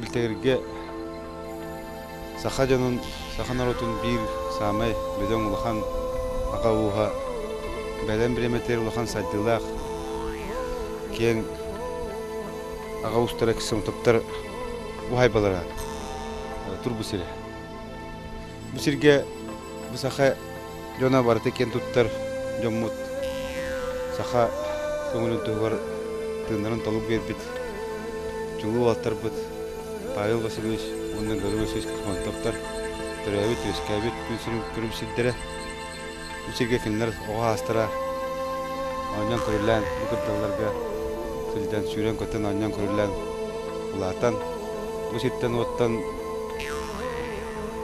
билтэгиргэ саха дьонун, саха норуотун биир саамай бөдөҥ улахан аҕа ууһа, бэлэм бириэмэтигэр улахан сайдыылаах киэҥ аҕа уустара экстрасенсоптар бу хайбалара турбу сирэ Бу сиргэ бу саха дьоно барыта киэн туттар дьоммут саха көҥүлүн туһугар тыыннарын толук биэрбит чулуу уолаттарбыт Павел Васильевич уонна Гаврил Васильевич Кохмантовтар төрөөбүт-үөскээбит күн сирин күрүм сирдэрэ Бу сиргэ кинилэр оҕо аастара оонньоон көрүллээн бу кырдалларга сылдьан сүүрэн-көтөн оонньоон көрүллээн улаатан бу сиртэн-уоттан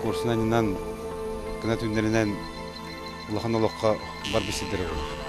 курсунанньынан кына түүннэринэн улахан олоххо барбыт сирдэрэ буолар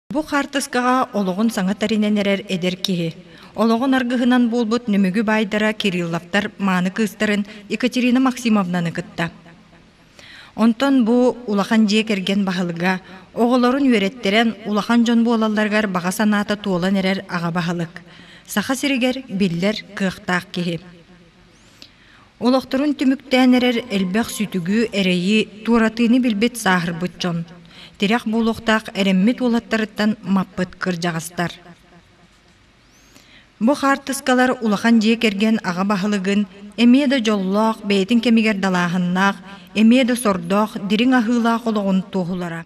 Бу хаартыскаҕа олоҕун саҥа тэринэн эрэр эдэр киһи, олоҕун аргыһынан буолбут Нөмүгү баайдара Кирилловтар мааны кыыстарын Екатерина Максимовнаны кытта. Онтон бу улахан дьиэ кэргэн баһылыга оҕолорун үөрэттэрэн улахан дьон буолалларыгар баҕа санаата туолан эрэр аҕа баһылык. Саха сиригэр биллэр кыахтаах киһи. Олохторун түмүктээн эрэр элбэх сүтүгү, эрэйи, туоратыыны билбит сааһырбыт дьон, тирэх буолуохтаах эрэммит уолаттарыттан маппыт кырдьаҕастар. Бу хаартыскалар улахан дьиэ кэргэн аҕа баһылыгын эмиэ да дьоллоох, бэйэтин кэмигэр далааһыннаах, эмиэ да сордоох, дириҥ аһыылаах олоҕун туоһулара.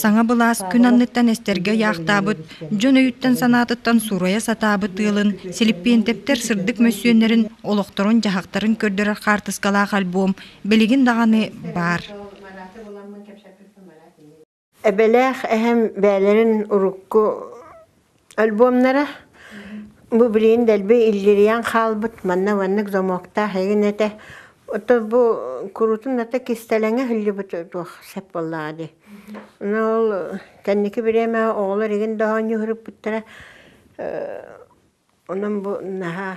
Саҥа былаас күн анныттан эстэргэ ыйаахтаабыт, дьон өйүттэн-санаатыттан суурайа сатаабыт ыалын Силиппиэнтэптэр сырдык мөссүөннэрин, олохторун-дьаһахтарын көрдөрөр хаартыскалаах альбом билигин даҕаны баар. Эбэлээх эһэм бэйэлэрин урукку Альбомнара бу билигин дэлби иллирийэн хаалбыт манна маннык замоктаах игин этэ ото бу курутун ата кистэлэҥэ иһиллибит туох сеп буоллаҕа дии но ол кэнники бириэмэ оҕолор игин да оонньууруппуттара онон бу наһаа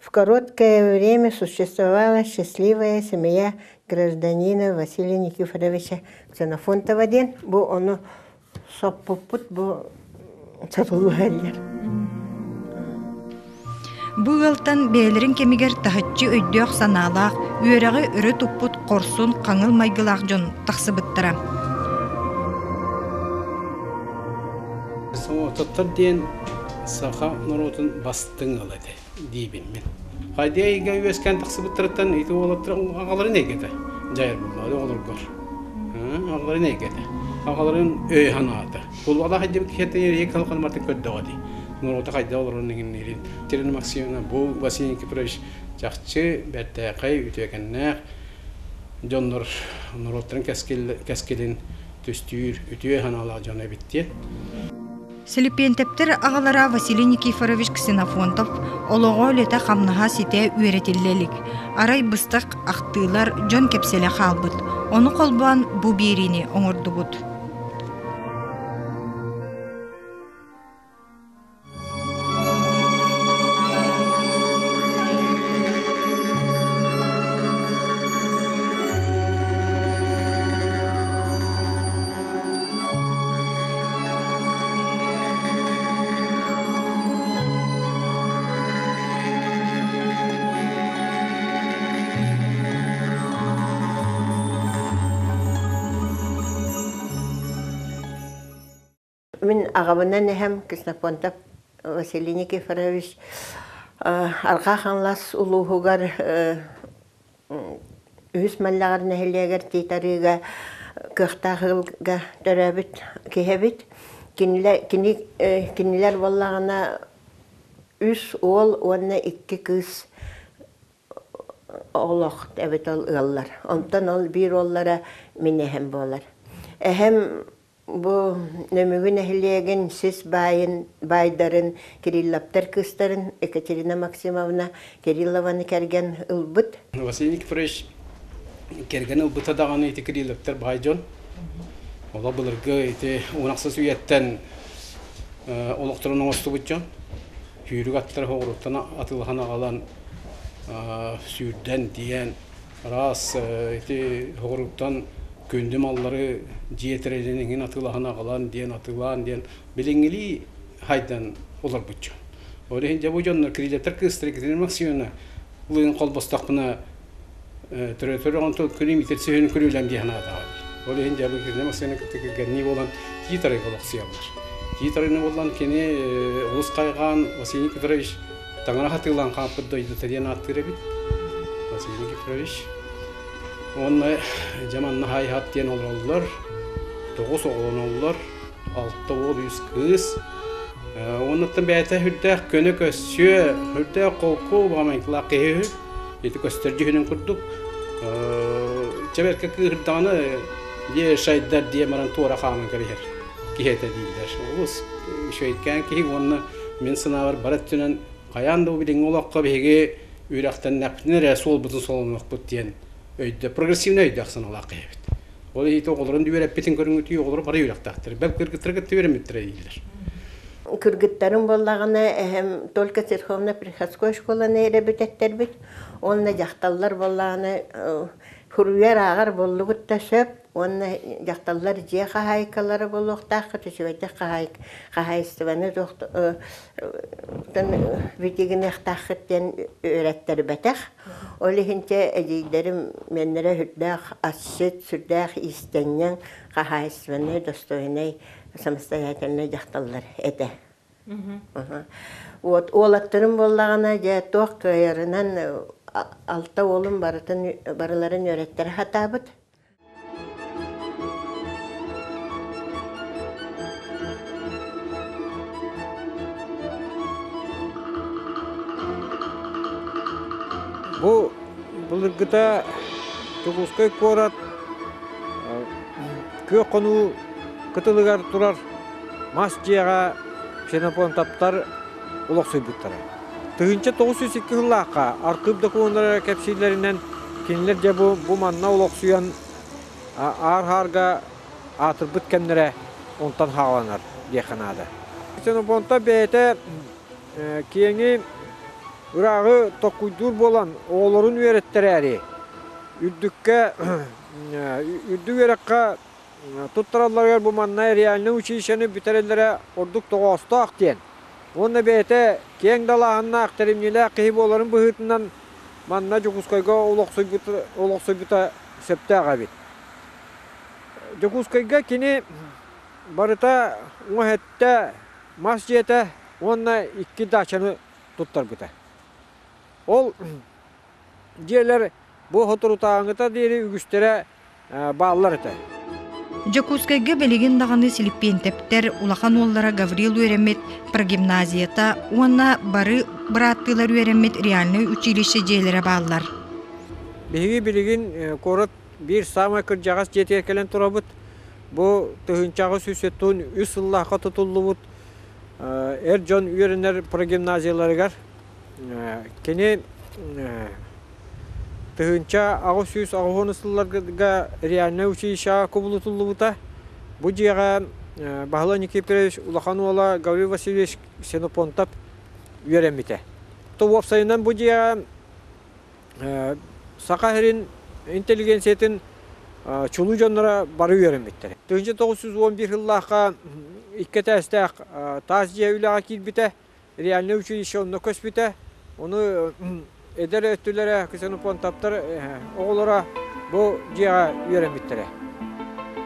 В короткое время существовала счастливая семья гражданина Василия Никифоровича Ксенофонтова диэн бу ону соппуппут бу сотулуга эргер Бу ыалтан бээлэрин кэмигэр таһыччы өйдөөх санаалаах, үөрэҕи өрө туппут хорсун хаҥыл майгылаах дьон тахсыбыттара. СМО диэн саха норуотун бастыҥ ыла этэ. диибиммин. Хайдыы эйгэ үөскээн тахсыбыттарыттан ити уолаттарын аҕаларын эйгэтэ дьайар булбаады оҕолоргор. Аҕаларын эйгэтэ. Аҕаларын өй санаата. Кулуалаах иддибит киһиттэн эрийэ калканмартын көрдөҕө дии. Норуота хайда олорорун иҥинниирин. Кирина Максимовна бу Василий Никифорович чахчы бэртээхэй, үтүөкэннээх дьоннор норуоттарын кэскилин түстүүр үтүө санаалаах дьоно эбит диэн Силипиэнтэптэр аҕалара Василий Никифорович Ксенофонтов олоҕо үлэтэ-хамнаһа ситэ үөрэтиллэ илик. Арай быстах ахтыылар, дьон кэпсэлэ хаалбыт. Ону холбоон бу биэриини оҥордубут. Мин ағабынан эһэм Кснофонтов Василий Никифорович арҕаа Хаҥлас улууһугар Үһүс Маллаҕар нэһилиэгэр тиит арыыга кыахтаах ыалга төрөөбүт киһибит. Кинилэр, кини, кинилэр буоллаҕына үс уол уонна икки кыыс олох эбит ол ыаллар. Онтон ол биир уоллара мин эһэм буолар. Эһэм Бу Нөмүгү нэһилиэгин сис баайын, баайдарын Кирилловтар кыыстарын Екатерина Максимовна Кириллованы кэргэн ылбыт. Василий Никифорович кэргэн ылбыта даҕаны ити Кирилловтар баай дьон. Олох былыргы ити Унахсас үйэттэн олохторун оҥостубут дьон. Сүүрүк аттара оҕуруттан атылаһан аҕалан сүүрдэн тиийэн Араас ити соҕурууттан күндү маллары дьиэ тэрилин иҥин атыылаһан аҕалан диэн атыылаан диэн билиҥҥилии хайдан олорбут дьон. Ол иһин дьэ бу дьоннор кредитор кыыстар Екатерина Максимовна лыгын холбостахпына төрөтөр оҕонтон күнү митир сиһин күрүүлэм диэхин аатаҕа. Ол иһин дьэ Екатерина Максимовна кытта кэргэннии буолан тиит арыйга олохсуйаллар. Тиит арыйны булан кини олус хайҕаан Василий Петрович Таҥараҕа атыылаан хаампыт дойдута диэн ааттыыр эбит. Василий Никифорович. Уонна Дьаманна Хайхат диэн олороллор. Тоҕус оҕолон оллор. Алта уол үс кыыс. Уоннаттан бэйэтэ үрдээх көнө көссүө, үрдээх холку, баҕамайкылаах киһи үһү. Ити көстөр дьүһүнүн курдук. Чэбэркэ кыыһырдаҕына, дьэ шайдар диye баран туора хааман кэбиһэр. киһи этэ дииллэр. Олус үчүгэйкээн киһи уонна мин санаабар бары өттүнэн хайаан да билиҥҥи олоххо биһиги үрэхтэннэхпитинэ эрэ суолбутун солонуохпут диэн өйдөөх, прогрессивнай өйдөөх санаалаах киһибит. Ол иһити оҕолорун үөрэппитин көрүҥүтүү оҕолор бары үөрэхтээхтэр. Бэл кыргыттары кытта үөрэммиттэрэ дииллэр. Кыргыттарым буоллаҕына, эһэм только церковно приходской школаны эрэ бүтэттэрбит. Уонна дьахталлар буоллаҕына, э, суруйар ааҕар буллубут да сөп. Уонна дьахталлар дьиэ хаһаайкалара буолуохтааххыт, үчүгэйдик хаһаай хаһаайыстыбаны битигинэхтааххыт диэн үөрэттэрбэтэх. Ол иһин чэ эдьиийдэрим мэннэрэ үрдээх асчыт, сүрдээх иистэнньэҥ, хаһаайыстыбаннай, достойнай, самостоятельнай дьахталлар этэ. Вот уолаттарым буоллаҕына дьэ туох кыайарынан алта уолум барытын барыларын үөрэттэрэ сатаабыт. Бу былыргыта Дьокуускай куорат күөх хонуу кытылыгар турар мас дьиэҕэ ксенофонтаптар олохсуйбуттара. Тыһыынча тоҕус сүүс икки сыллаахха архыып докумуоннара эрэ кэпсииллэринэн, кинилэр дьэ бу, бу манна олохсуйан аар-һаарга аатырбыт кэмнэрэ онтон хааланар диэххэ наада. Ксенофонта бэйэтэ киэҥи, ырааҕы токкуйдуур буолан оҕолорун үөрэттэрээри үрдүккэ үрдүк үөрэххэ Туттаралларыгар бу манна реальнай училищены бүтэрэллэрэ ордук тоҕоостоох диэн уонна бэйэтэ киэҥ далааһыннаах, тэримньилээх киһи буоларын быһыытынан манна Дьокуускайга олохсуйбута, олохсуйбута сөптөөх эбит. Дьокуускайга кини барыта уҥа эттэ, мас дьиэтэ уонна икки даачаны туттарбыта. Ол Дьиэлэр бу соторутааҥыта диэри үгүстэрэ бааллар этэ. Дьокуускайга билигин даҕаны силиппиэнтэптэр улахан уоллара Гаврил үөрэммит прогимназията уонна бары бырааттыылар үөрэммит реальнай училище дьиэлэрэ бааллар. Биһиги билигин куорат биир саамай кырдьаҕас дьиэтигэр кэлэн турабыт. Бу тыһыынчаҕа сүүс сүүс сыллаахха тутуллубут эр дьон үөрэнэр прогимназияларыгар Кини тыһыынча аҕыс сүүс аҕыһын сылларга реальнай училищеҕа кубулутуллубута. Бу дьиэҕэ Баһылай Никифорович улахан уола Гаврил Васильевич Ксенофонтов үөрэммитэ. То уопсайынан бу дьиэҕэ Саха сирин интеллигенциятын чулуу дьонноро бары үөрэммиттэрэ. Тыһыынча тоҕус сүүс уон биир сыллаахха икки этээстээх таас дьиэ үлэҕэ киирбитэ. реальное училище онно көспүтэ. Ону эдэр өттүлэрэ ксенофонтаптар оҕолоро бу дьиэҕэ үөрэммиттэрэ.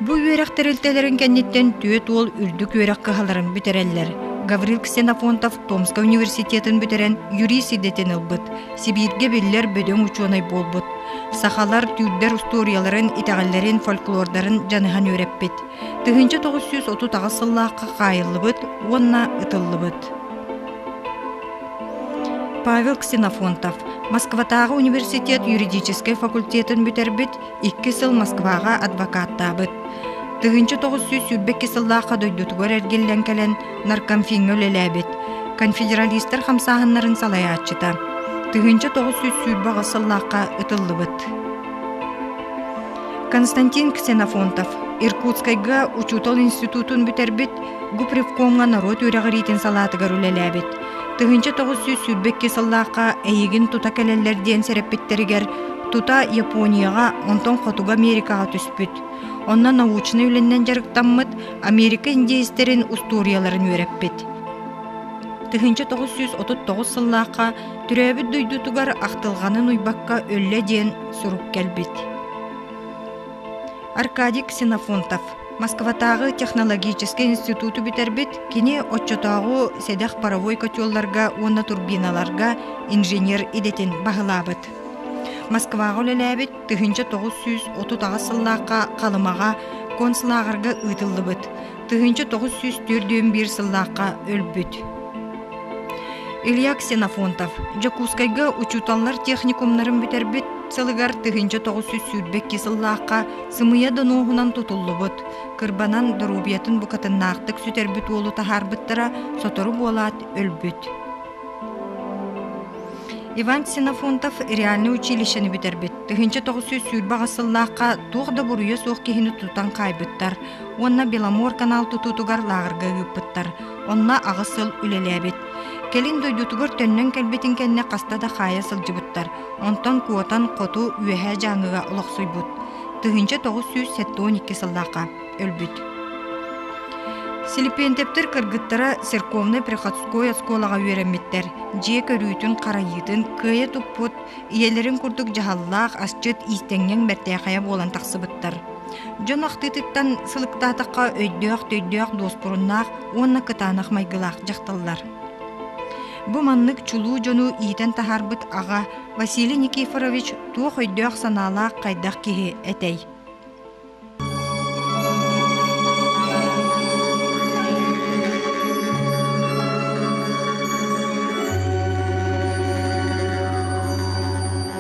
Бу үөрэх тэрилтэлэрин кэнниттэн түөрт уол үрдүк үөрэх кыһаларын бүтэрэллэр. Гаврил Ксенофонтов Томскай университетын бүтэрэн юрист идэтин ылбыт, Сибииргэ биллэр бөдөҥ учуонай буолбут. Сахалар түүрдэр устуоруйаларын, итэҕэллэрин, фольклордарын дьаныһан үөрэппит. тыһыынча тоҕус сүүс отут аҕыс сыллаахха хаайыллыбыт уонна ытыллыбыт. Павел Ксенофонтов Москватааҕы университет юридическай факультетын бүтэрбит, икки сыл Москваҕа адвокаттаабыт. Тыһыынча тоҕус сүүс сүүрбэкки сыллаахха дойдутугар эргиллэн кэлэн наркомфиҥҥа үлэлээбит, конфедералистар хамсааһыннарын салайааччыта. Тыһыынча тоҕус сүүс сүүрбэ аҕыс сыллаахха ытыллыбыт. Константин Ксенофонтов Иркутскайга учуутал институтун бүтэрбит, Гупревкомҥа норуот үөрэҕириитин салаатыгар үлэлээбит. Тыһыынча тоҕус сүүс сүүрбэ икки сыллаахха эйигин тута кэлэллэр диэн сэрэппиттэригэр тута Японияҕа, онтон Хотугу Америкаҕа түспүт. Онно научнай үлэннэн дьарыктаммыт, Америка индеецтэрин устуоруйаларын үөрэппит. Тыһыынча тоҕус сүүс отут тоҕус сыллаахха Төрөөбүт дойдутугар ахтылҕанын уйбакка өллө диэн сурук кэлбит. Аркадий Ксенофонтов Москватааҕы технологическай институту бүтэрбит, кини оччотооҕу сэдэх паровой хочуолларга уонна турбиналарга инженер идэтин баһылаабыт. Москваҕа үлэлээбит тыһыынча тоҕус сүүс отут аҕыс сыллаахха Халымаҕа концлааҕырга ыытыллыбыт. тыһыынча тоҕус сүүс түөрт дьүөн биир сыллаахха өлбүт. Илья Ксенофонтов Дьокуускайга учууталлар техникумнарын бүтэрбит сылыгар тыһыынча тоҕус сүүс сүүрбэкки сыллаахха сымыйа донуоһунан тутуллубут, кырбанан доруобуйатын букатыннаахтык сүтэрбит уолу таһаарбыттара сотору буолаат өлбүт. Иван Ксенофонтов реальный училищены бүтэрбит. Тыһыынча тоҕус сүүс сүүрбэҕэ сыллаахха туох да буруйа суох киһини тутан хаайбыттар. уонна Беломор канал тутуутугар лааҕырга ыыппыттар. Онно аҕыс сыл үлэлээбит. Кэлин дойдутугар төннөн кэлбитин кэннэ хаста да хаайа сылдьыбыттар. Онтон куотан хоту Үөһээ Дьааҥыга олохсуйбут. Тыһыынча тоҕус сүүс сэттион икки сыллаахха өлбүт. Силипиэнтэптэр кыргыттара церковнай приходской оскуолаҕа үөрэммиттэр. Дьиэ көрүүтүн-харайыытын кыайа туппут, ийэлэрин курдук дьаһаллаах, асчыт иистэнньэҥ бэртээхэйэ буолан тахсыбыттар. Дьон ахтыытыттан сылыктаатахха өйдөөх-төйдөөх дуоспуруннаах уонна кытаанах майгылаах дьахталлар. Бу маннык чулуу дьону иитэн таһаарбыт аҕа Василий Никифорович туох өйдөөх-санаалаах хайдах киһи этэй?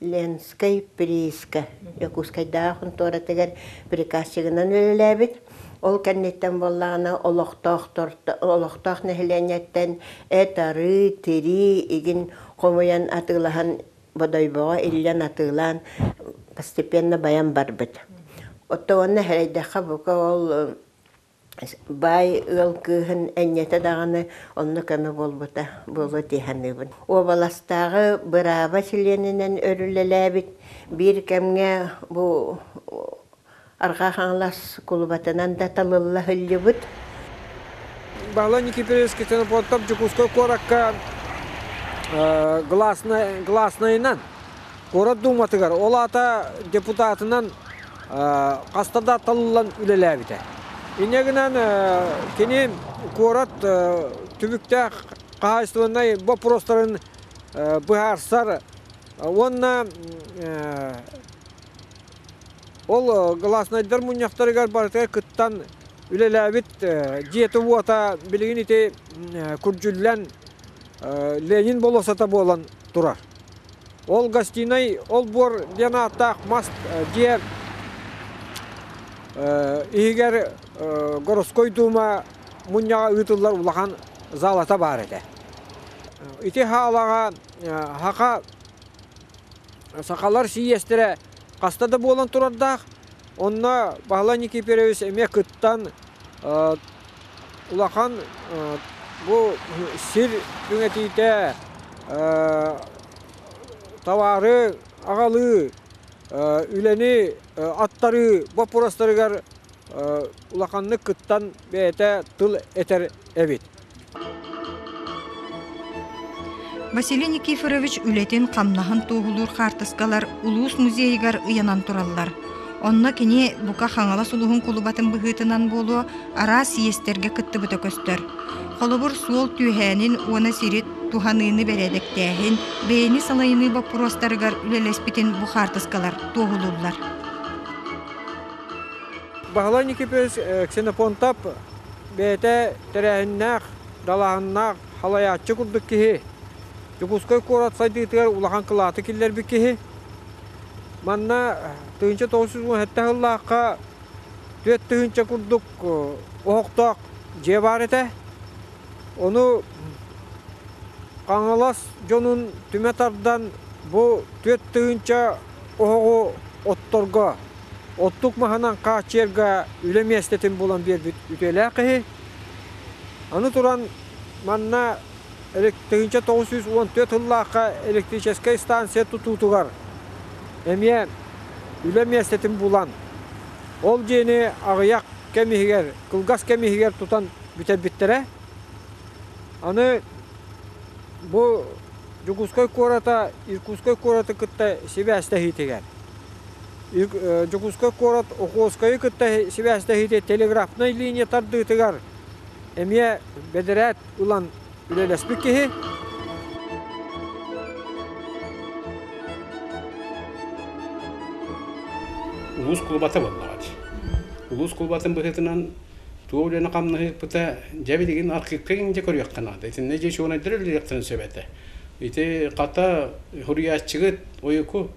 Ленскэй прииска, Дьокуускайдааҕы хонтуоратыгар приказчигынан үлэлээбит. Ол кэнниттэн буоллаҕына олохтоохтор олохтоох нэһилиэнньэттэн эт-арыы, тирии игин хомуйан атыылаһан Бодойбоҕо иллэн атыылаан постепенно байан барбыт. Оттон уонна эрэйдэххэ бука ол Баай ыал кыыһын энньэтэ даҕаны онно көмө буолбута буолуо дии саныыбын. Уобаластааҕы бырааба чилиэнинэн өрүллэлээбит биир кэмҥэ бу Арҕаа Хаҥалас кулубатынан да талылла сылдьыбыт. Павло Никифорович Ксенофонтов Дьокуускай куоракка э, гласной, гласнайынан Куорат Дууматыгар, ол аата депутатынан хаста да талыллан үлэлээбитэ. Инньэ гынан кини куорат түбүктээх хаһаайыстыбаннай боппуруостарын быһаарсар уонна ол гласнайдар мунньахтарыгар барытыгар кыттан үлэлээбит дьиэтэ-уота билигин ити күрдьүллэн Ленин болосата буолан турар. Ол гостинай олбуор диэн ааттаах мас дьиэ иһигэр Городской Дума мунньаҕа ыытыллар улахан заалата баар этэ. Ити хаалаҕа сахалар сийиэстэрэ хаста да буолан турардаах. Онно Баһылай Никифорович эмиэ кыттан улахан бу сир түҥэтиитэ табаары аҕалыы, үлэни аттарыы боппуруостарыгар улаханнык кыттан бэйэтэ тыл этэр эбит. Василий Никифорович үлэтин-хамнаһын туоһулуур хаартыскалар улуус музейыгар ыйанан тураллар. Онно кини бука Хаҥалас улуһун кулубатын быһыытынан буолуо араас иэстэргэ кыттыбыта көстөр. Холобур, суол түөһээнин уона сири туһаныыны бэрээдэктээһин, бэйэни салайыныы боппуруостарыгар үлэлэспитин бу хаартыскалар туоһулууллар. Баһылай Никифорович Ксенофонтап бэйэтэ Тэрээһиннээх, далааһыннаах, салайааччы курдук киһи, Дьокуускай куорат сайдыытыгар улахан кылааты киллэрбит киһи. Манна тыһыынча тоҕус сүүс уон сэттэ сыллаахха түөрт тыһыынча курдук оһохтоох дьиэ баар этэ. Ону Хаҥалас дьонун түмэ тардан бу түөрт тыһыынча оһоҕу отторго оттук маһынан хааччыйарга үлэ миэстэтин булан биэрбит үтүөлээх киһи. Аны туран манна тыһыынча тоҕус сүүс уон түөрт сыллаахха электрическэй станция тутуутугар эмиэ үлэ миэстэтин булан, ол дьиэни аҕыйах кэм иһигэр, кылгас кэм иһигэр тутан бүтэрбиттэрэ. Аны бу Дьокуускай куората Иркутскай куораты кытта сибээстэһиитигэр Дьокуускай куорат Охотскайы кытта сибээстэһиитэ телеграфнай линия тардыытыгар эмиэ бэдэрээт ылан үлэлэспит киһи. Улуус кулубата буоллаҕа дии. Улуус кулубатын быһыытынан Туох үлэни хамнаһыппыта, дьэ билигин архивка инде көрүөххэ наада. Итиннэ дьэ учуонайдар үлэлиэхтэрин сөп этэ. Ити хата хуруйааччыгыт ойуку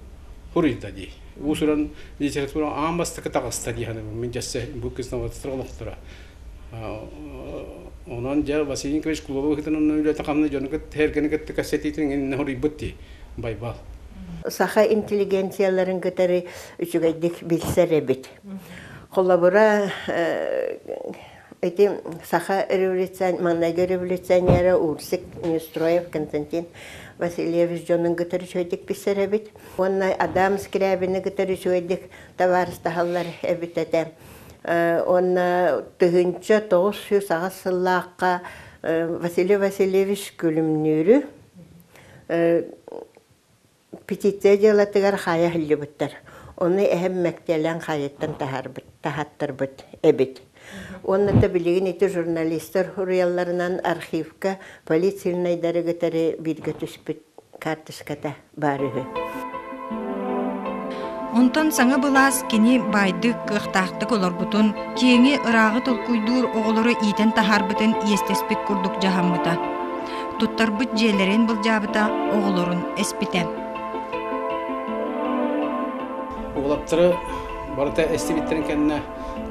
хуруйда дии. Уусуран литература аан бастакы таҕыста дии ханыбын. Мин дьэссе бу кыснаватыстар олохторо. Онон дьэ Василий Николаевич Кулова хытын онно үлэтин хамна дьону кытта кытта кассетитин иннэ хуруйбут дии. Байбал. Саха интеллигенцияларын кытары үчүгэйдик билсэр эбит. Холобура, ити саха революцион маҥнайгы революционера Урсик Нестроев Константин Васильевич дьонун кытары үчүгэйдик билсэр эбит уонна Адам Скрябины кытары үчүгэйдик табаарыстаһаллар эбит этэ. Уонна тыһыынча тоҕус сүүс аҕыс сыллаахха Василий Васильевич Күлүмнүүрү Петиция дьыалатыгар хаайа иһиллибиттэр. Ону эһэм мэктиэлээн хаайыыттан таһаттарбыт эбит. Уонна да билигин ити журналистар уруйалларынан архивка полицийнайдары кытары бииргэ түспүт карточката баар үһү. Онтон саҥа былаас кини баайдык, кыахтаахтык олорбутун, киэҥи, ырааҕы толкуйдуур оҕолору иитэн таһаарбытын иэстэспит курдук дьаһаммыта. туттарбыт дьиэлэрин былдьаабыта оҕолорун эспитэ уолаттары барыта эстибиттэрин кэннэ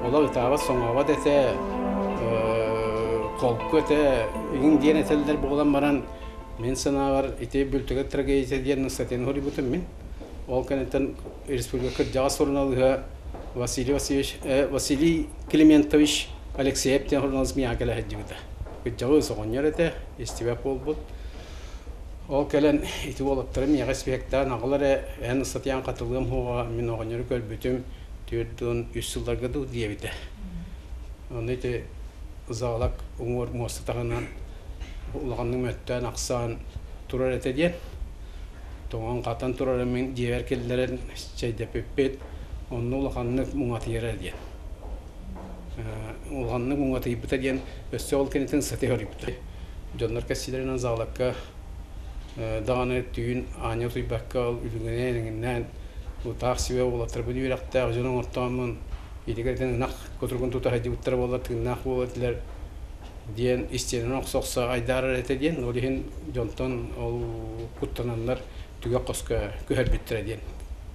олох ытаабат соҥообот этэ холку этэ игин диэн этэллэр буолан баран мин санаабар ити бүлтүгэ трагедия диэн статьяны хоруйбутум мин ол кэнниттэн республика кырдьаҕас суруналыыһа Василий Васильевич Василий Климентович Алексеев диэн суруналыыс миэхэ кэлэ сылдьыбыта Ыччабыт соҕонньор этэ, истибэт буолбут. Ол кэлэн ити уолаттары миэхэ испиэктээн аҕалар эрэ эн ыстатыйаан хатылыам хуоҕа мин оҕонньору көрбүтүм түөрт уон үс сылларга дуу диэбитэ. Ону ити заалак уҥуор муоста таһынан улаханнык мөттөөн ахсаан турар этэ диэн. Тоҥон хатан турара мин дьиэбэр киллэрэн чэйдэпиппит, онно улаханнык муҥатыйара диэн. улаханнык уҥатыйбыта диэн өссө ол кэнниттэн сытыһа өрүппүтэ дьоннор кэссиилэринэн заалакка даҕаны түүн аанньа утуйбакка ол үлүгүнээн эҥиннээн утаах сибэ уолаттарбыт үөрэхтээх дьон оҥортооммун итигэртэн ынах кутургун тута садьдьыбыттара буоллар тыыннаах буолар этилэр диэн истиэнэн охсо-охсо айдаарар этэ диэн ол иһин дьонтон ол куттананнар түгэх хоско күһэрбиттэрэ диэн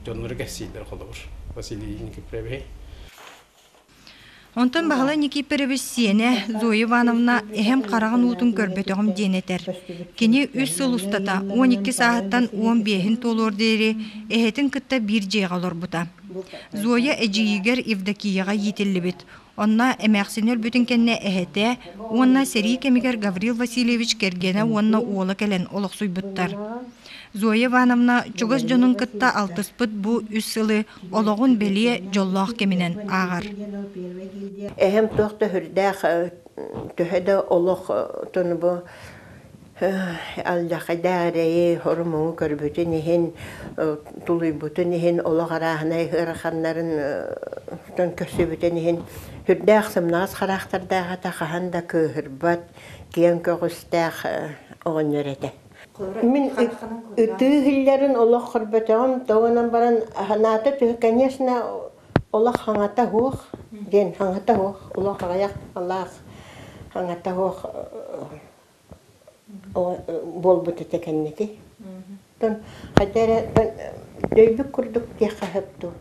дьоннору кэссииллэр холобур Василий Никифорович Онтон Баһылай Никифорович сиэнэ Зоя Ивановна эһэм хараҕын уутун көрбөтөҕүм диэн этэр. Кини үс сыл устата он икки сааһыттан уон биэһин туолуор диэри эһэтин кытта биир дьиэҕэ олорбута. Зоя эдьиийигэр Евдокияҕа иитиллибит. Онно эмээхсини өлбүтүн кэннэ эһэтэ уонна сэрии кэмигэр Гаврил Васильевич кэргэнэ уонна уола кэлэн олохсуйбуттар. Зоя Ивановна чугас дьонун кытта алтыспыт бу үс сылы олоҕун бэлиэ дьоллоох кэминэн ааҕар. Эһэм туох да сүрдээх төһө да олохтон бу алдьархайдаарэйи орумуҥу көрбүтүн иһин тулуйбутун иһин олох арааһынай ыараханнарын көрсүбүтүн иһин сүрдээх сымнаҕас хараахтардаах этэ хаһан да кыыһырбат киэҥ көҕүстээх оҕонньор этэ Мин ытыы иһиллэрин олох көрбөтөҕүм, тоҕо гынан баран санаата төһө конечно олох хаҥата суох диэн хаҥата суох, олох аҕыйах алаах хаҥата суох буолбут этэ кэнники. Хайда эрэ өйбүт курдук диэххэ сөп дуу,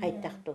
хайдах дуу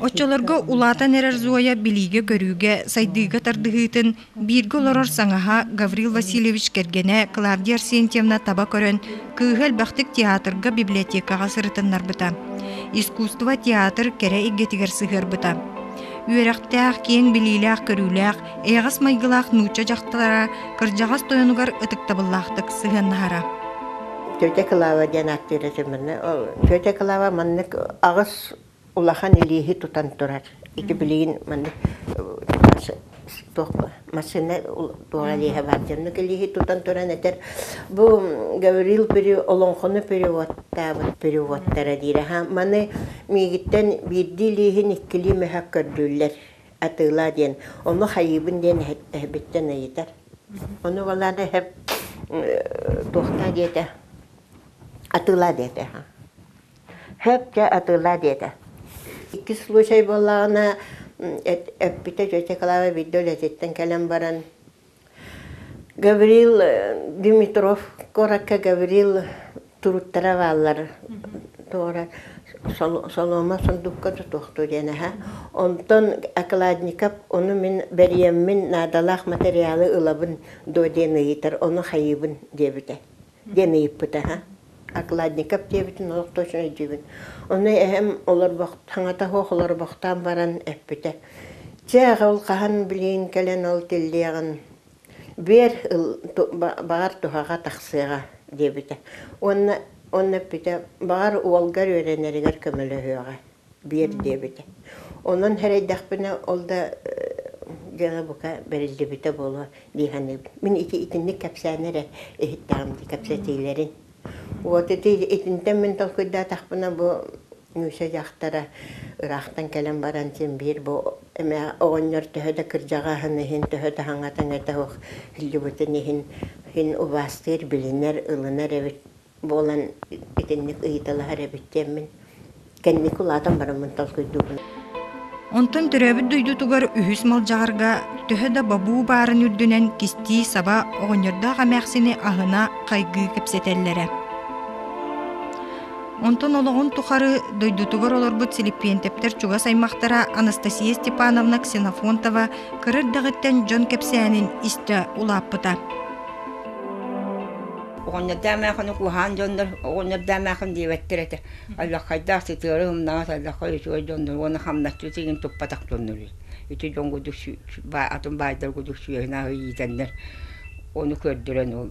Оччолорго улаатан эрэр Зоя билиигэ-көрүүгэ, сайдыыга тардыһыытын бииргэ олорор саҥаһа Гаврил Васильевич кэргэнэ Клавдия Арсентьевна таба көрөн, кыыһа элбэхтик театрга, библиотекаҕа сырытыннарбыта. Искусство театр кэрэ эйгэтигэр сыһыарбыта. Үөрэхтээх, киэҥ билиилээх-көрүүлээх Эйэҕэс майгылаах нуучча дьахтара кырдьаҕас тойонугар ытыктабыллаахтык сыһыаннаһара. Тетя Клава диэн актера сэмэнэ Тетя Клава маннык аҕыс улахан илииһи тутан турар. Ити билигин маннык туох массыына туох илииһэ баар дьоннук илииһи тутан туран этэр бу Гаврил олоҥхону переводтаабыт переводтара диир аха маны миигиттэн биирдии илииһин иккилии мөһök көрдүүллэр атыылаа диэн ону хайыыбын диэн эһэбиттэн ыйытар. Ону балаан эһэм туохтаа диэтэ атыылаа диэтэ Хөп дьэ атыылаа диэтэ. Иккис случай буоллаҕына эппитэ тетя Клава биирдэ үлэтиттэн кэлэн баран Гаврил Димитров куоракка Гаврил туруктара бааллар туора соломо сундукка тутуохтуу диэн аһа онтон Окладников ону мин бэрийэммин наадалаах материалы ылабын дуо диэн ыйытар ону хайыыбын диэбитэ диэн ыйыппыта үһү. Окладников диэбитин олох да үчүгэй диибин. Ону эһэм олорбох, саҥата суох олорбохтоон баран эппитэ, Чэ, аҕа ол хаһан билигин кэлэн ол тиллиэҕин, биэр, баҕар туһаҕа тахсыаҕа, диэбитэ. Уонна уонна эппитэ, Баҕар уолгар үөрэнэригэр көмөлөһүөҕэ, биэр диэбитэ. Онон эрэйдэхпинэ ол да дьиэҕэ бука бэриллибитэ буолуо дии саныыбын. Мин ити итинник кэпсээн эрэ иһиттэҕим дии кэпсэтиилэрин. Вот ити итинтэн мин толкуйдаатахпына бу Миша дьахтара ыраахтан кэлэн баран син биир бу эмэ оҕонньор төһө да кырдьаҕаһын иһин төһө да хаҥатан этэ суох иһиллибитин иһин син убаастыыр билинэр ылынар эбит буолан итинник ыйыталаһар эбит диэммин кэнники улаатан бараммын толкуйдуубун. Онтон төрөөбүт дойдутугар үһүс Малдьаҕарга төһө да бобуу баарын үрдүнэн кистии саба оҕонньордоох эмээхсини аһына хайгыы кэпсэтэллэрэ. Онтон олоҕун тухары дойдутугар олорбут силиппиэнтэптэр чугас аймахтара Анастасия Степановна Ксенофонтова кыра эрдэҕиттэн дьон кэпсээнин истэ улааппыта. оҕонньордоомаахыны куһаан дьоннор оҕонньордоомаахын диэбэттэр этэ аллаххайдаах сытыары умнаҕас аллаххай үчүгэй дьоннор уонна хамначчы тигин туппатах дьоннор ити дьон курдук атын баайдар курдук сүөһүнээх иитэннэр ону көрдөрөн ол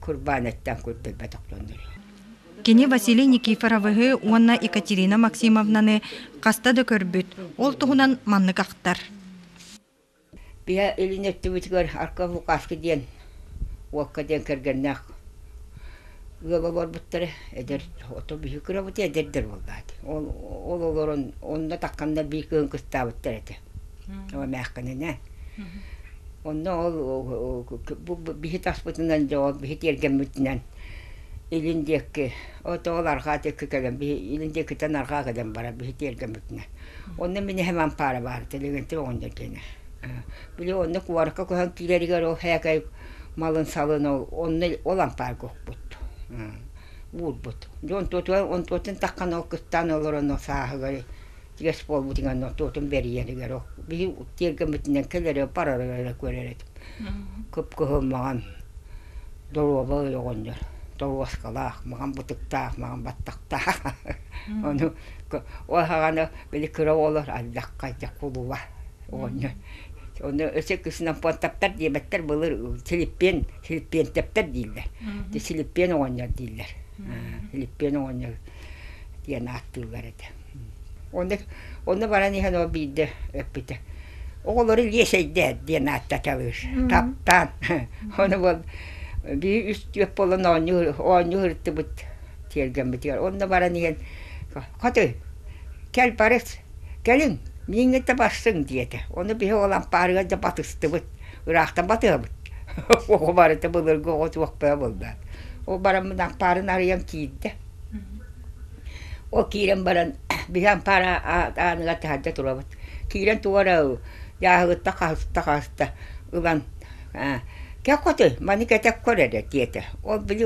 курбаанаттан көрдөрбөтөх дьоннор Кини Василий Никифоровыһы уонна Екатерина Максимовнаны хаста да көрбүт, ол туһунан маннык ахтар. Биһэ илин өттүбүтүгэр арка Лукашка диэн уокка диэн кэргэннээх ыал олорбуттара. Эдэр ото биһи кырабыт эдэрдэр буоллаат. Ол ол олорон онно такканна бии кыын кыстаабыттар этэ. Ол эмээхкэнинэ. Онно ол бу биһи таспытынан дьо биһи тиэргэммитинэн Илин диэки, отоол арҕаа диэки кэлэн, биһи илин диэкиттэн арҕаа кэлэн барар, биһи тиэргэммитинэ. Онно мин эһэм ампаара баар, Телегэнтип оҕонньор диэнэ. Били онно куоракка көһөн киирэригэр ол һээкэй малын-салын ол онно ол ампаарга укпут, уурбут. Дьэ онтуотугар, онтуотун таххан ол кыстаан олорон ол сааһыгар игэс буолбутугар ноттуотун бэрийэнигэр били тиэргэммитинэн кэлэри барары эрэ көрөр этим кып-кыһыммаҕын доруоба ойоҕонньор торуоскалаах маҕан бытыктаах маҕан баттахтаах ону уоһаҕана били кыра уоллар ардахха дьэ кулуба оҕонньор ону өсө кыснан понтаптар диэбэттэр былыр силиппиэн силиппиэнтэптэр дииллэр силиппиэн оҕонньор дииллэр силиппиэн оҕонньор диэн ааттыыллар этэ Ону, ону баран иһэн ол биирдэ эппитэ, оҕолору лиэсэйдээр диэн ааттаталыыр, таптаан. Ону ол бии үс-түөрт буолан оонньуур, оонньуу ырыттыбыт тиэргэммитигэр. Онно баран иһэн, «Хотой, кэл бары, кэлиҥ, мииҥҥэ да барсыҥ» диэтэ. Ону биһи ол ампаарыгар да батыстыбыт, ыраахтан батыһабыт. Оҕо барыта былыргы оҕо суохпаа буоллаат. Ол бараммын ампаарын арыйан киирдэ. Ол киирэн баран биһи ампаара ааныгар таһырдьа турабыт. Киирэн тугу эрэ дьааһыгыттан хаһыста-хаһыста ылан «Кэккотый, маны кэтик көр эрэ» диэтэ. Ол били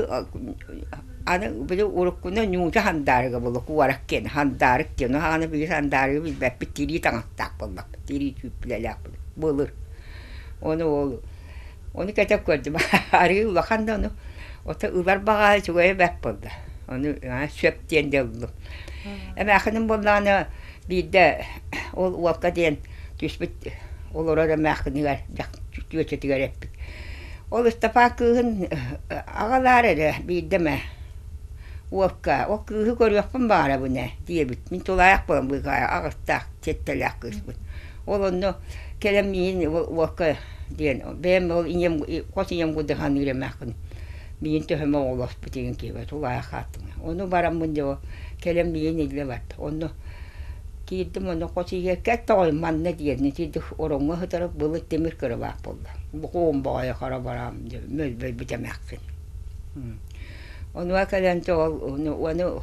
аны били уруккуну ньууча хандаарыга буолла куорак диэн хандаарык диэн аны били хандаарыгы билбэппит тирии таҥастаах буолбаппыт тирии түүппүлэлээх былыр. Ону ол Ону кэтэх көрдүм. Арыы улахан да ону. Ото ылар баҕаһа үчүгэйэ бэрт буолла. Ону сөп диэн да ыллым. Эмээхиним буоллаҕына биирдэ ол уолка диэн түспүт олорор эмээхинигэр түөчэтигэр эппит. Ол Ыстапаан кыыһын аҕалаар эрэ биирдэ эмэ уолка ол кыыһы көрүөхпүн баҕарабын ээ диэбит. Мин тулаайах буолан быыкаҕа аҕыстаах, сиэттэлээх кыыспын. Ол онно кэлэн миин уокка диэн бэйэм ол ийэм хос ийэм кудыһан үлэмэххин миин төһөмө оҕолоспут игин киһи тулаайах хааттыҥа ону бараммын дьо кэлэн миин иллэ барда онно киирдим онно хос ийэ кэттоҕой манна диэнни тиэрдик ороҥҥо сытарык былыт тимир кырабаах буолла букуум боҕойо хара бараам дьо мөлбөлбүт эмэххин онуа кэлэн то ол уону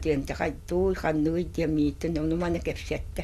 диэн туй ханныгый диэн мииттин ону маны кэпсэттэ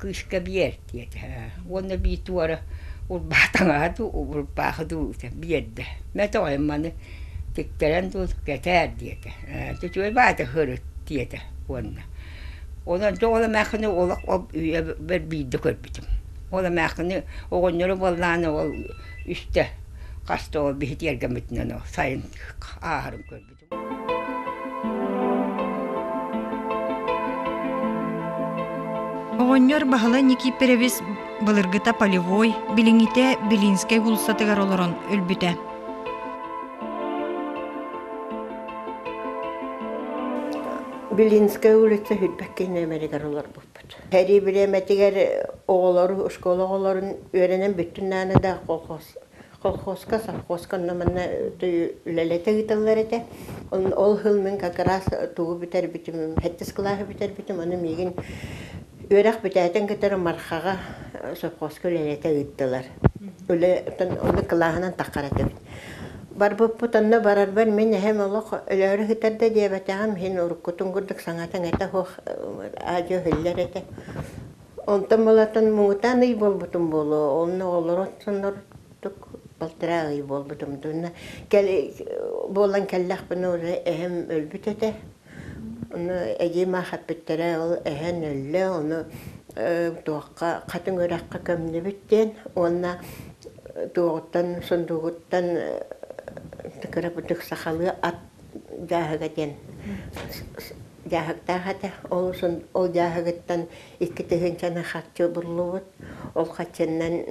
кыыска биэртиэ уонна эбии туора урбаатаҥаһа дуу урбаахы дуу биэрдэ мэтэ оҕоем маны тиктэрэн дуу кэтээр диэтэ үчүгэй баата сырыт диэтэ уонна онон дьэ ол эмээхсини олох ол үйэбэр биирдэ көрбүтүм ол эмээхсини оҕонньору буоллаҕына ол үстэ хаста ол биһи тиэргэммитинэн ол сайын ааһарын көрбүтүм Оҕонньор Баһыла Никиперевис былыргыта полевой, билиҥҥитэ Белинскэй уулуссатыгар олорон өлбүтэ. Белинская улица Хүлбэккэй номеригэр олорбуппут. Сэрии бириэмэтигэр оҕолору, оскуола оҕолорун үөрэнэн бүттүн нааны да колхоз колхозка, совхозка онно манна үлэлэтэ ыыталлар этэ. Ол сыл мин как раз тугу бүтэрбитим, сэттис кылааһы бүтэрбитим, ону миигин үөрэх бүтээтин кытары Мархаҕа совхозка үлэлэтэ ыыттылар. Үлэ ону кылааһынан таххар этибит. Барбыппыт онно барарбар мин эһэм олох өлөөрү сытар да диэбэтэҕим, иһин уруккутун курдук саҥатын этэ суох аа-дьүө өһүллэр этэ. Онтон мулатан муҥутаан ый буолбутум буолуо, онно олорон соннордук балтараа ый буолбутум дууна. Кэл буолан кэллэхпинэ уже эһэм өлбүт этэ. Ону эдьиим аахпыттара ол эһэн өллө, ону э туохха хатыҥ үрэххэ көмнүбүт диэн уонна туоҕуттан сундуугуттан кырапытык сахалыы ат дьааһыга диэн Дьааһыктаах этэ, ол дьааһыгыттан икки тыһыынчаны харчы буллубут, ол харчынан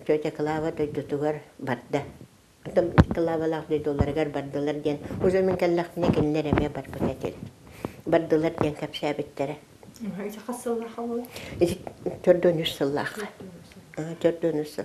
тетя Клава дойдутугар барда. Оттон Клавалаах дойдуларыгар бардылар диэн уже мин кэллэхпинэ кинилэр эмиэ барбыт этим. Бардылар диэн кэпсээбиттэрэ. Ичи хас сыллаах ол? Ичи төрт уон үс сыллаах. Төрт уон үс сыл.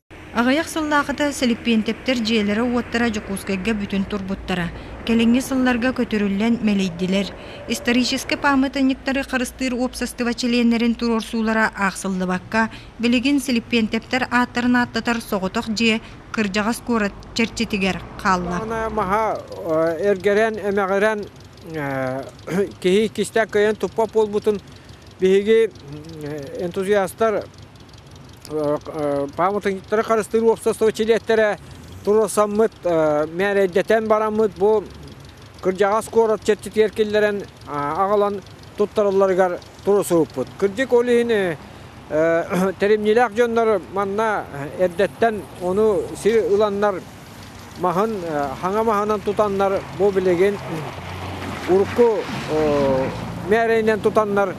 Аҕыйах сыллаахыта Сэлиппиэнтэптэр дьиэлэрэ-уоттара Дьокуускайга бүтүн турбуттара. Кэлиҥҥи сылларга көтүрүллэн мэлийдилэр. Историческай пааматынньыктары харыстыыр уопсастыба чилиэннэрин туруорсуулара аахсыллыбакка, билигин Силиппиэнтэптэр ааттарын ааттатар соҕотох дьиэ кырдьаҕас куорат чэрчитигэр хаалла. Маһа эргэрэн-эмэҕирэн киһи иккистээн кыайан туппат буолбутун биһиги энтузиастар пааматынньыктары харыстыыр уопсастыба чилиэттэрэ туруорсаммыт мээрэйдэтэн бараммыт бу кырдьаҕас куорат чэрчитигэр киллэрэн аҕалан туттаралларыгар туруорсубуппут. Кырдьык ол иһин тэримньилээх дьоннор манна эрдэттэн ону сир ыланнар маһын хаҥа маһынан тутаннар бу билигин урукку мээрэйинэн тутаннар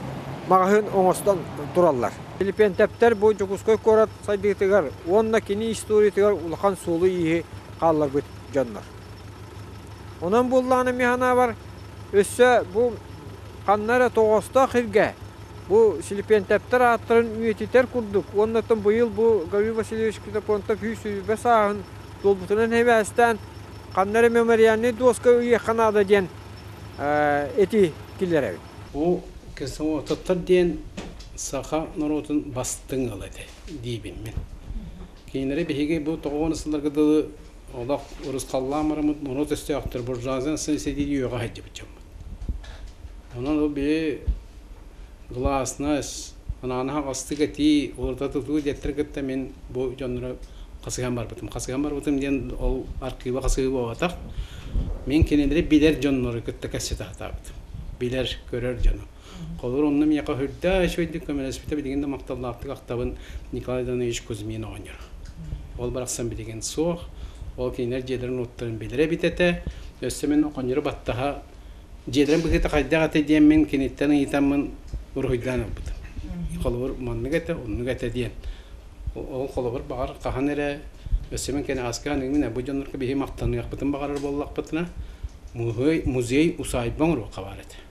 маҕаһыын оҥостон тураллар. Филиппентептэр бу Дьокуускай куорат сайдыытыгар уонна кини историятыгар улахан суолу-ииһи хаалларбыт дьоннор. Онон буоллаҕына миһанаабар өссө бу ханна эрэ тоҕоостоох иргэ Бу Силипиэнтэптэр ааттарын үйэтитэр курдук уонна быйыл бу Гаврил Васильевич Ксенофонтов сүүс-сүбэ сааһын долбутунан эбээстээн ханна эрэ мемориальнай дуоска ыйыахха наада диэн эти киллэрэбин. Бу Ксенофонтоптор диэн саха норуотун бастыҥ ыала этэ диибин мин. Кинилэрэ биһиги бу тоҕуонна сылларга дылы олох урусхаллаан бараммыт муруот өстөөхтөр буржуаздан сын сэтииди үөҕэ сылдьыбыт дьоммут. Онон ол били гласнас, анаана хаҕастык этии, уларыта тутуу диэттэр кытта мин бу дьоннору хасыһан барбытым. Хасыһан барбытым диэн ол архыыба хасыһыы буолбатах. Мин кинилэри билэр дьоннору кытта кэсси тахтаабытым. Билэр, көрөр дьону. Холор онно меня хаһырда, үчүгэйдик көмөлөспүтэ билигин да махталлаахтык ахтабын Николай Иванович Кузьмин оҕонньор. Ол барахсан билигин суох. Ол кинилэр дьиэлэрин уоттарын билэрэ эбит этэ. Өссө мин оҕонньору баттаһа дьиэлэрин быһыыта хайдах этэ диэммин киниттэн ыйытаммын уруһуйдаан ылбытым. Холобур маннык этэ, оннук этэ диэн. Ол холобур баҕар хаһан эрэ өссө мин кини аска аныгымын бу дьоннорго биһи махтаныахпытын баҕарар буоллахпытына музей музей усаайба оҥоруохха баар этэ.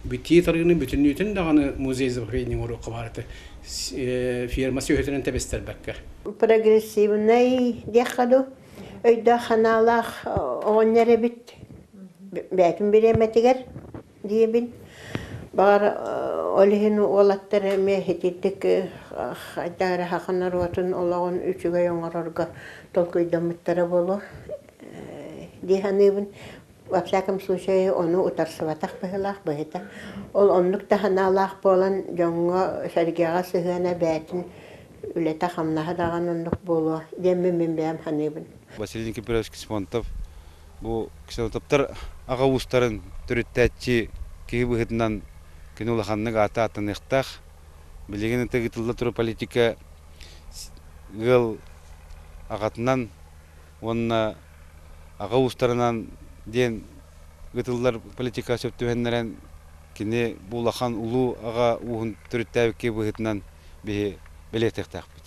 Битии тарыыны бүтүннүүтүн даҕаны музей забвения оҥоруохха баарыта фирма сүөһүтүнэн тэбистэрбэккэ. Прогрессивнай диэххэ дуу, өйдөөх-санаалаах оҕонньор эбит бэйэтин бириэмэтигэр диэбин. Баҕар ол иһин уолаттар эмиэ ититик хайдах эрэ саха норуотун олоҕун үчүгэй оҥорорго толкуйдаммыттара буолуо дии саныыбын. Во всяком случае, ону утарсыбатах быһыылаах быһыыта. Ол оннук да санаалаах буолан, дьоҥҥо, сэргэҕэ сыһыана бэйэтин үлэтэ-хамнаһа даҕаны оннук буолуо диэммин мин бэйэм саныыбын. Василий Никифорович Ксимонтов бу ксенотоптор аҕа уустарын төрүттээччи киһи быһыытынан кини улаханнык аата ааттаныахтаах. Билигин ытык ыытылла турар политика ыал аҕатынан уонна аҕа уустарынан диэн ыытыллар политикаҕа сөп түһэннэрэн, кини бу улахан улуу аҕа ууһун төрүттээбиккэ быһыытынан биһи бэлиэтиэхтээхпит.